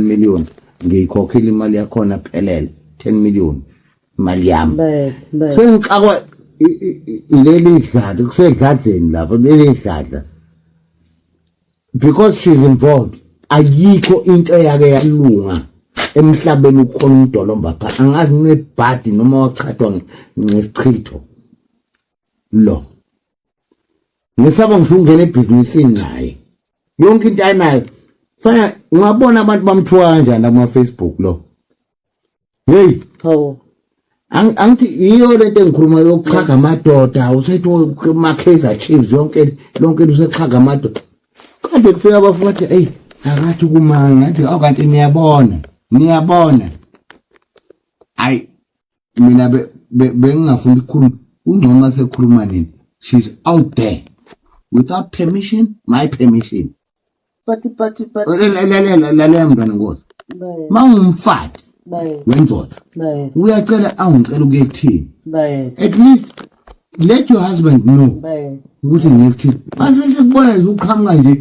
10 million ngiyikhokhile imali yakhona phelele 10 million imali yami sengixakwa ileli dlada kusedladleni lapho leli dlada because she's involved ayikho into eyake yalunga emhlabeni ukhona umdolomba pha angazi nebhadi noma wachithwa ngesichitho lo ngisaba ngisho ungena ebhizinisini naye yonke into ayinayo fana ngabona abantu bamthuka kanjani la kuma-facebook lo heyi hawu angithi yiyo le nto engikhuluma yokuchaga amadoda usethi ma-kaizer chiefs yonke lonke into usechaga amadoda kade kufika abafu bathi eyi akathi kumanga ngathi awu kanti niyabona niyabona hhayi mina bengingafuni ukukhuluma ungcono uma sekhuluma nini she's out there without permission my permission lalela lalela mntwana nkosi ma ungumfati wendoda uyacela angicela ukuye kuthini at least let your husband know ukuthi ngikuthini mase sikubona nje uqhamuka nje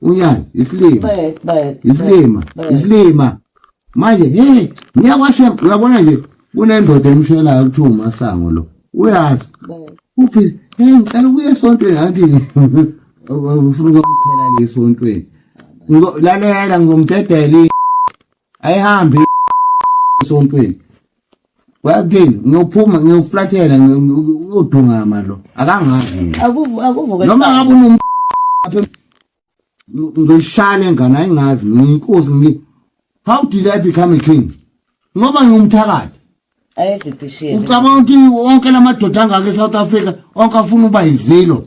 Uyani isilima. Isilima. Isilima. Manje hey ngiyakwashem uyabona nje kunendoda emshelayo kuthiwa umasango lo. Uyazi. Uphi hey ngicela ubuye esontweni ngathi ufuna ukuphela lesontweni. Lalela ngizomdedela ayihambi esontweni wathini ngiyophuma ngiyoflathela ngiyodungama lo akangazi noma ngabe unom ngishale ngane ayingazi ngiyinkosi ngi how did i become a king ngoba ngiyumthakathi ucabanga ukuthi wonke la madoda angaka e-south africa onke afuna uba yizilo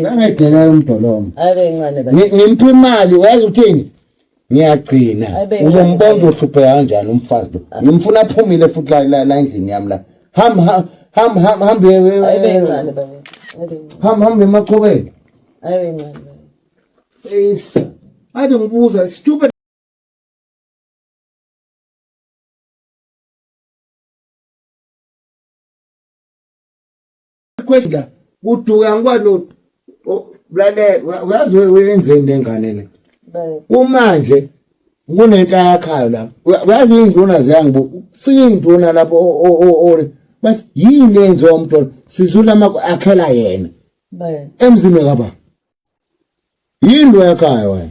Ngangedela umdolomo. Ngimpa imali wazi uthini? Ngiyagcina. Uzombona uzohluphe kanjani umfazi lo. Ngimfuna aphumile futhi la la endlini yami la. Ham ham ham ham ham be. Ayibe incane baba. Ham ham emachobeni. Ayibe incane. Yes. Ade ngibuza stupid Question kuduka ngikwani lale uyazi uyenzeni nengane le. Kumanje kunenhla yakhayo la. Uyazi induna ziyangibu fika induna lapho o bathi yini yenziwa umntwana sizula akhela yena. Emzini kababa. Yini lo yakhayo wena?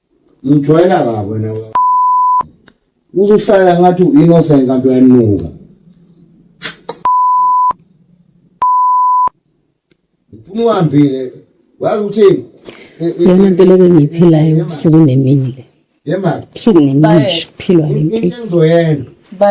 Ngijwayela kabi wena we. Uzohlala ngathi u-innocent kanti uyanuka. Ngifuna uhambile. Wazi uthini? Lena nto leke ngiyiphilayo usuku nemini le. Yemali. Usuku nemini nje kuphilwa le Into mpilo. engizoyenza.